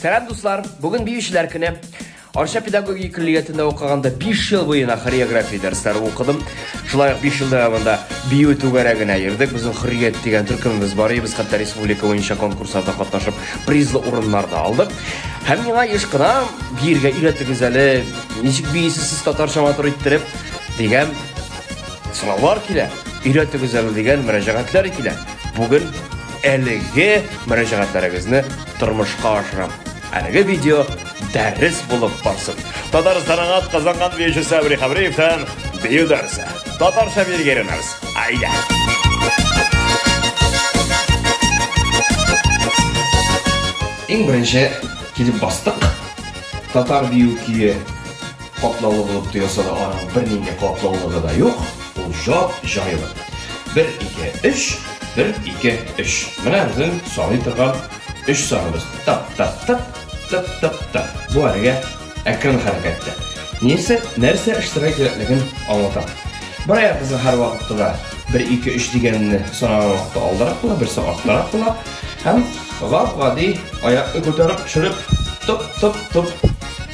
Сәлам, дуслар! Бүген биючеләр көне. Арча педагогия көллиятендә укыганда 5 ел буена хореография дәресләре укыдым. Шулай ук 5 ел дәвамында бию түгәрәгенә йөрдек. Безнең Хөррият дигән төркемебез бар иде. Без хәтта республика буенча конкурсларда катнашып, призлы урыннар да алдык. Һәм миңа еш кына биергә өйрәтегез әле, ничек бийсез сез татарча матур иттереп дигән сораулар килә. Өйрәтегез әле дигән мөрәҗәгатьләр килә. Бүген Әлеге мөрәҗәгатьләрегезне тормышка ашырам. Әлеге видео дәрес булып барсын. Татарстанга казанган биюче Сабри Хабриевтан бию дәрсе. Татарча биергә өйрәнәбез. Айда! Иң беренче килеп бастык. Татар бию көе Катлаулы булып тоелса да, аның бернинди катлаулыгы да юк, ул җап-җайлы. Бер, ике, өч, бер, ике, өч. Менә безнең саный торган өч саныбыз. Тап-тап-тап, тап-тап-тап. Бу әлегә әкрен хәрәкәттә. Нәрсә, нәрсә эшләргә кирәклеген аңлатам. Бер аягыбызны һәрвакытта да бер, ике, өч дигәнне санаган вакытта алдарак була, берсе арттарак була. Һәм гап-гади аякны күтәреп төшереп, топ-топ-топ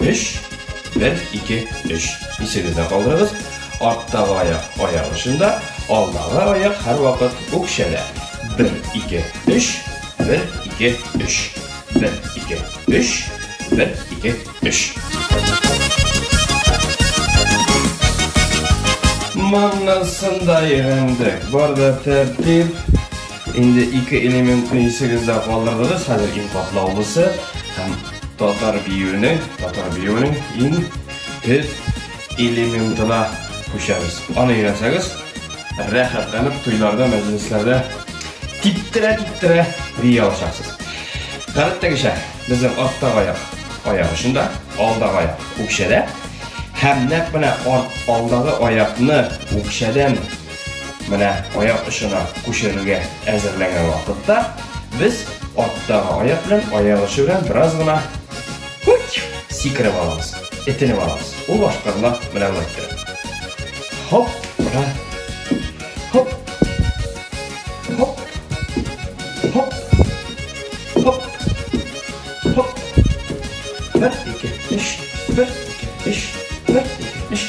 Өч, бер, ике, өч. Исегездә калдырыгыз. Арттагы аяк аяк очында, алдагы аяк һәрвакыт үкчәдә. Бер, ике, өч, бер, ике, өч. Бер, ике, өч, бер, ике, өч. Моннан сында өйрәндек. Бар да тәртип. Инде ике элементны исегездә калдырдыгыз, хәзер иң катлаулысы һәм татар биюенең, татар биюенең иң төп элементына күчәбез. Аны өйрәнсәгез, рәхәтләнеп туйларда, мәҗлесләрдә типтерә-типтерә бия алачаксыз. Гадәттәгечә, безнең арттагы аяк аяк очында, алдагы аяк үкчәдә һәм нәкъ менә арт алдагы аякны үкчәдән Менә аяк очына күчерергә әзерләнгән вакытта без арттагы аяк белән аяк очы белән бераз гына сикереп алабыз, этенеп алабыз. Ул башкарыла менә болай иттереп. Хоп, ура. Хоп. Хоп. Хоп. Хоп. Хоп. Бер, ике, өч. Бер, ике, өч. Бер, ике, өч.